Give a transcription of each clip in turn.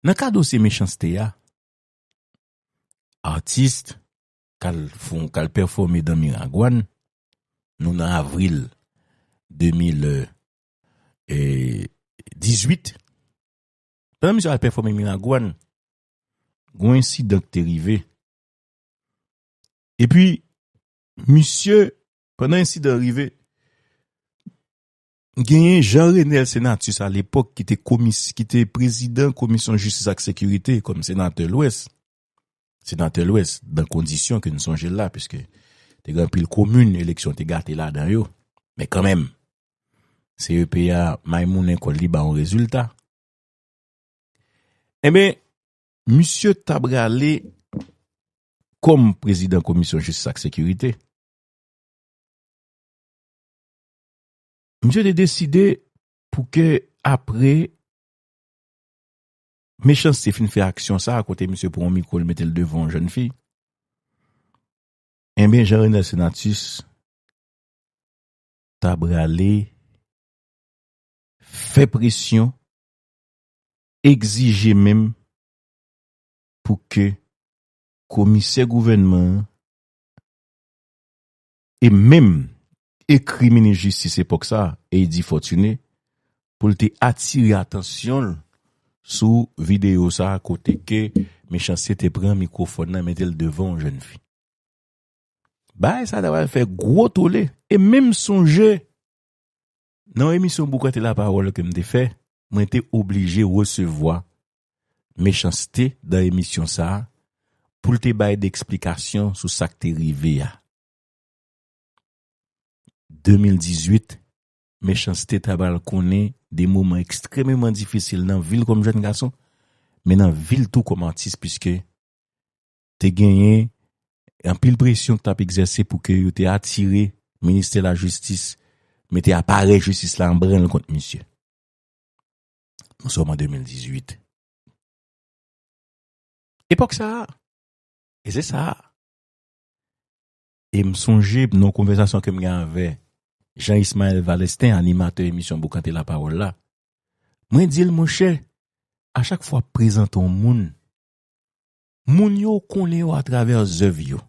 Nan ka dosye mechanste a, atis k al fon, k al pèfòme dan Miragwàn, nou nan avril 2018, pandan misye al pèfòme Miragwàn, gon ensidan k te rive, epi misye, pandan ensidan rive, Genyen Jean Renel Senatus a lepòk ki te komis, ki te prezidan komisyon jistis ak sekirite kòm senatè lwès, senatè lwès dan kondisyon ke n sonje l la piske te gen anpil komin eleksyon te gate ladan yo men kanmenm CEP a may mounen kòl li ba yon rezilta. Enben, misye ta prale kòm prezidan komisyon jistis ak sekirite. Misye te deside pou ke apre Mechanste fin fè aksyon sa a kote misye pran yon mikwo li mete l devan yon jèn fi, enben Jean Renel Senatus ta prale fè presyon, egzije menm pou ke komisè gouvènman an e menm ekri minis jistis epòk sa, Eddy Fortuné, pou l te atire atansyon l sou videyo sa kote ke Mechanste te pran mikwofòn nan mete l devan yon jèn fi. Bagay sa ta pral fè gwo tole e menm sonje Nan yon emisyon Boukanté la parole ke m te fè, mwen te oblije resevwa Mechanste dan emisyon sa a pou l te bay de eksplikasyon sou sa k te rive a. 2018, Mechanste ta pral konnen de moman ekstrememan difisil nan vi l kòm jèn gason, men nan vi l tou kòm atis puiske te genyen anpil presyon ki t ap egzèse pou ke yo te atire Ministè Lajistis, mete aparèy jistis la an branle kont misye. Nou sòm an 2018. Epòk sa a, e se sa a, e m sonje nan yon konvèsasyon ke m gen avè Jean Ismael Valestin, animatè emisyon Boukante Lapawòl la, mwen di l, monchè, a chak fwa w ap prezante yon moun, Moun yo konnen yo atravè zèv yo.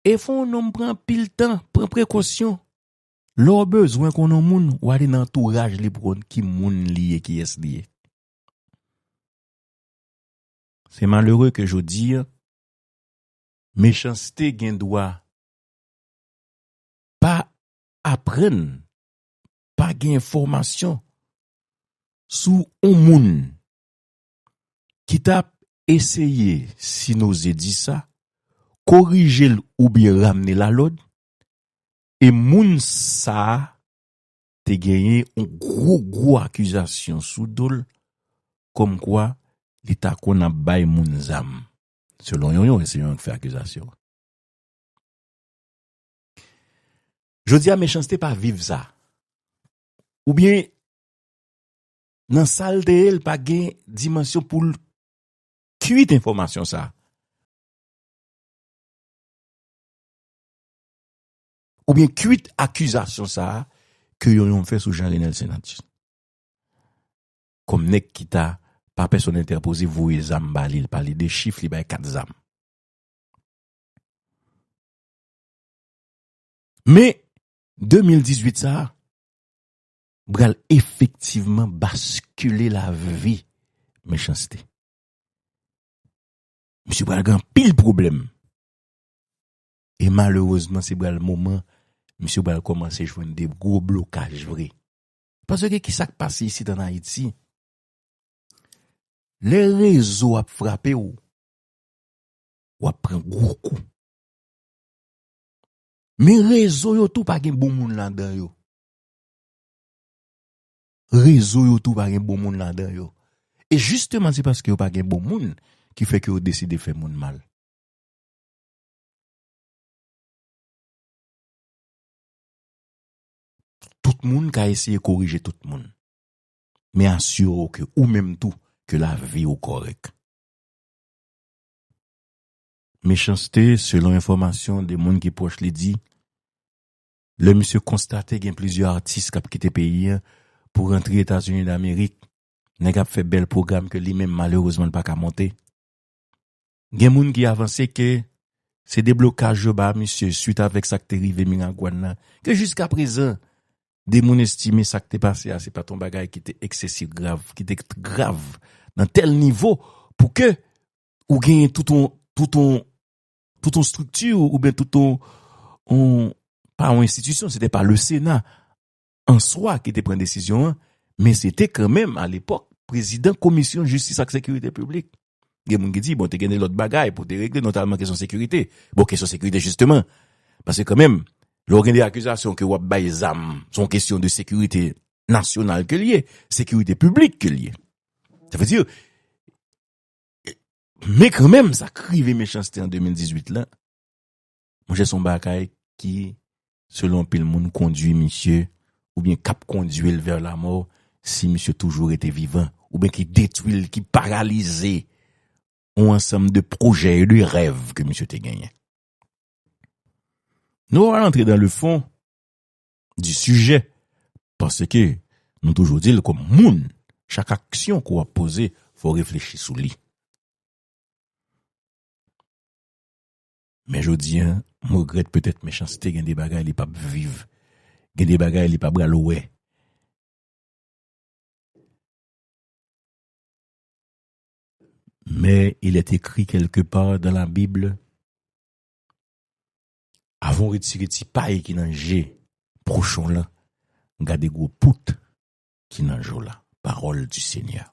E fò yon nonm pran anpil tan, pran prekosyon. Lè w bezwen konnen yon moun, w ale nan antouraj li pou konn ki moun li ye, kiyès li ye. Se malere ke jodi, mechanste gen dwa pa aprann, pa gen enfòmasyon sou yon moun ki t ap eseye, si n oze di sa, korije l oubyen ramne l alòd e moun sa a te genyen yon gwo gwo akizasyon sou do l kòmkwa li ta konn ap bay moun zam, selon yon yon, se yon yon k fè akizasyon an. Jodi a Mechanste pa viv sa. Oubyen nan sal te ye l pa gen dimansyon pou l kwit enfòmasyon sa. Ou byen kwit akizasyon sa ke yon yon fè sou Jean Renel Senatien. Kòm nèg ki ta pa pèsòn entèpoze voye zam ba li, li pale de chif li bay kat zam. Men, 2018 sa, bral efektivman baskile lavi Mechanste. Misye bral gen anpil pwoblèm. E malerezman se bral moman misye bral kòmanse jwenn de gwo blokaj vre. Paske ki sa k pase isit ann Ayiti, lè rezo ap frape w, w ap pran gwo kou. Men rezo yo tou pa gen bon moun ladan yo. Rezo yo tou pa gen bon moun ladan yo. E jisteman se paske yo pa gen bon moun ki fè ke yo deside fè moun mal. Tout moun ka eseye korije tout moun. Men asire w ke ou menm tou ke lavi ou kòrèk. Mechanste, selon enfòmasyon de moun ki pwòch li di, lè misye konstate gen plizyè atis kap kite peyi an pou rantre Etazini Damerik, nèg ap fè bèl pwogram ke li menm malerezman li pa ka monte. Gen moun ki avanse ke se deblokaj yo ba misye swit avèk sak te rive Miragwàn nan ke jiska prezan de moun estime sak te pase a se pat yon bagay ki te eksesif grav, ki te grav nan tèl nivo pou ke ou genyen tout yon, tout yon. tout yon strikti ou byen tout yon, pa yon enstitisyon, se te pa le sena an swa ki te pren desisyon an, men se te kan menm a lepòk prezidan komisyon jistis ak sekirite publik. Gen moun ki di, bon te gen de lòt bagay pou te regle, notalman kesyon sekirite. Bon kesyon sekirite jisteman, pase kan menm, lò gen de akizasyon ke wap bay zam, son kesyon de sekirite nasyonal ke liye, sekirite publik ke liye. Sa vezi, Men kanmenm sa k rive Mechanste an 2018 la, monchè son bagay ki selon anpil moun kondwi misye oubyen k ap kondwi l vè lamò si misye toujou rete vivan oubyen ki detwi l, ki paralize yon ansanm de pwojè e de rèv ke misye te genyen. Nou pa pral antre dan le fon di sijè paske nou toujou di l kòm moun chak aksyon ke w ap poze fò w reflechi sou li. Men jodi a m regrèt petèt mechanste gen de bagay li pap viv, gen de bagay li pa pral wè. Men il est écrit quelque part dans la bible Avan w retire ti pay ki nan je pwochen w lan, gade gwo pout ki nan je w la. Parole du Seigneur.